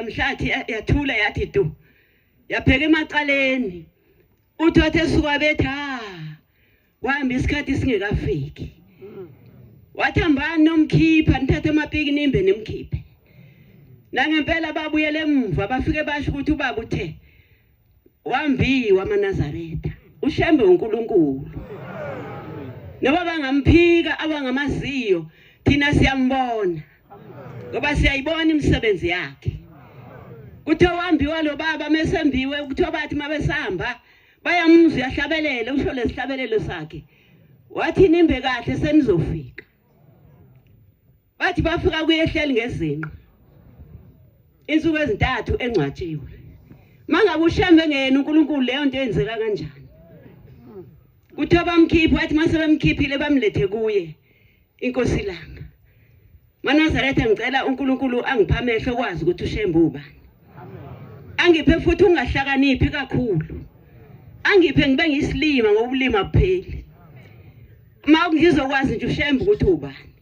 mhlathi yathula yathi tu yapheka emacaleni uthi wathi esuka bethi ha wahamba isikhathi singekafiki wathi hambani nomkhipha nithathe amapiki nimbe nimkhiphe nangempela babuyele emva bafike basho ukuthi ubaba uthe Wambi wamaNazaretha, uShembe uNkulunkulu. Noba bangamphika abangamaziyo, thina siyambona. Ngoba siyayibona imisebenzi yakhe. Kuthe wambiwa lo baba mesembiwe kuthiwa bathi mabesihamba bayamuzwa uyahlabelela usho lesihlabelelo sakhe. Wathi nimbe kahle senizofika. Bathi bafika kuyehleli ngezinqa. Insuku ezintathu engcwatshiwe. Mangabe ushembe ngene uNkulunkulu leyo nto yenzeka kanjani? Kuthiwa bamkhipha wathi mase bemkhiphile bamlethe kuye inkosi langa. Manazaretha ngicela uNkulunkulu angipha amehlo kwazi ukuthi ushembe ubani. Angiphe futhi ungahlakaniphi kakhulu. Angiphe ngibe ngisilima ngobulima bupheli. Uma ngizokwazi nje ushembe ukuthi ubani.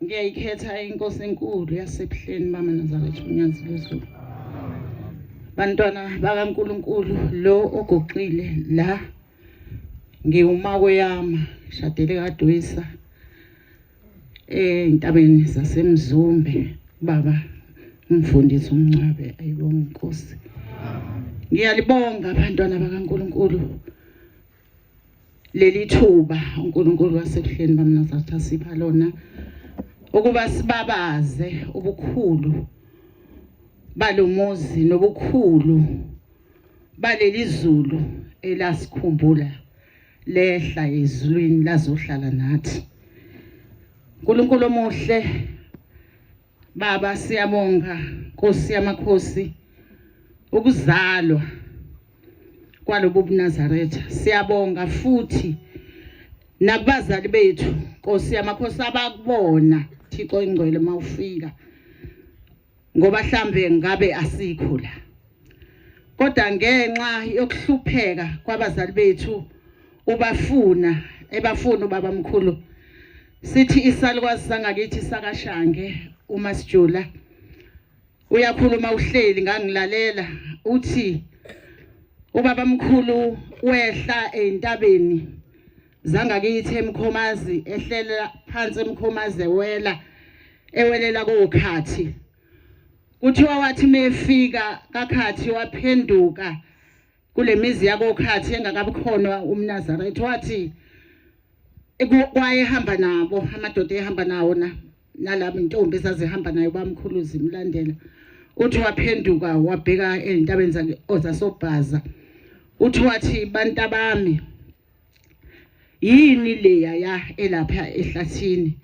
Ngiyayikhetha inkosi enkulu yasebuhleni mama Nazareth uNyazi lwezulu. Bantwana bakaNkuluNkulu lo ogoqile la ngiwumako yami shadele kaDwisa entabeni eh, zaseMzumbe baba umfundisi umncwabe ayibonga inkosi ngiyalibonga abantwana bakaNkuluNkulu leli thuba uNkulunkulu wasekuhleni bamnazatha sipha lona ukuba sibabaze ubukhulu balomuzi nobukhulu baleli zulu elasikhumbula lehla ezulwini lazohlala nathi uNkulunkulu omuhle Baba siyabonga Nkosi yamakhosi ukuzalwa kwalobu buNazaretha siyabonga futhi nakubazali bethu Nkosi yamakhosi abakubona Thixo ingcwele mawufika ngoba hlambe ngabe asikho la Kodwa ngenxa yokuhlupheka kwabazali bethu ubafuna ebafuna ubaba mkhulu sithi isalukwazi sangakithi sakashange uma sijula uyakhuluma uhleli ngangilalela uthi ubaba mkhulu wehla eintabeni zangakithi emkhomazi ehlela phansi emkhomazi ewela ewelela kokhathi Kuthiwa wathi mefika kakhathi waphenduka kulemizi yakokhathi engakabukhona umNazaretha wathi kwayehamba nabo amadoda ehamba nawo na nalabo intombi ezazihamba nayo bamkhuluzi imlandela uthi waphenduka wabheka ezintabeni zake ozasobhaza uthi wathi bantabami yini leya ya elapha ehlathini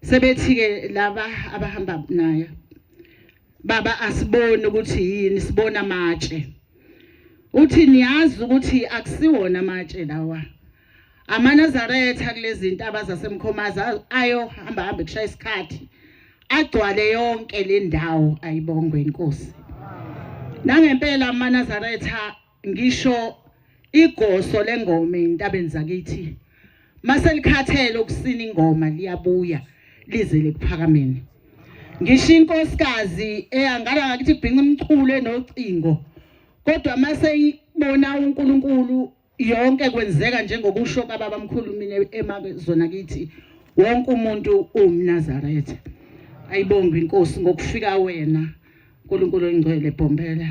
sebethi ke laba abahamba naye baba asiboni ukuthi yini sibona amatshe uthi niyazi ukuthi akusiwona amatshe lawa amanazaretha kulezi zinto abazasemkhomaza ayohamba hamba kushaya isikhathi agcwale yonke le ndawo ayibongwe inkosi nangempela amanazaretha Ngisho igoso lengoma entabeni zakithi maselikhathele ukusina ingoma liyabuya lize lekuphakameni. Ngisho inkosikazi eyangala ngakithi kubhinqa umculo enocingo kodwa mase ibona uNkulunkulu yonke kwenzeka njengokusho kababa mkhulu mina emazona kithi wonke umuntu uwumnazaretha ayibonge inkosi ngokufika wena Nkulunkulu oyingcwele bhombela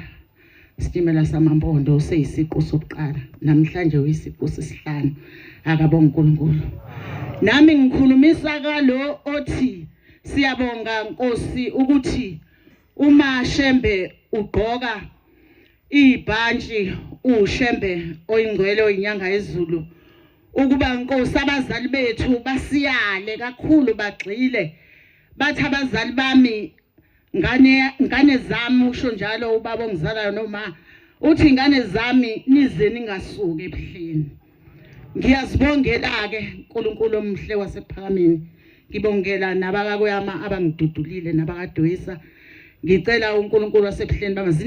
sitimela samampondo useyisiqu sokuqala namhlanje uyisiqu sesihlanu akabonga uNkulunkulu nami ngikhulumisa kalo othi siyabonga Nkosi ukuthi uma Shembe ugqoka ibhantshi uShembe oyingcwele oyinyanga ezulu ukuba Nkosi abazali bethu basiyale kakhulu bagxile bathi abazali bami Ngane ngane zami usho njalo ubaba ongizalayo noma uthi ingane zami nize ningasuki ebuhleni. Ngiyazibongela ke uNkulunkulu omhle wasephakameni. Ngibongela nabakakweyama abangidudulile nabakadoyisa. Ngicela uNkulunkulu wasebuhleni bama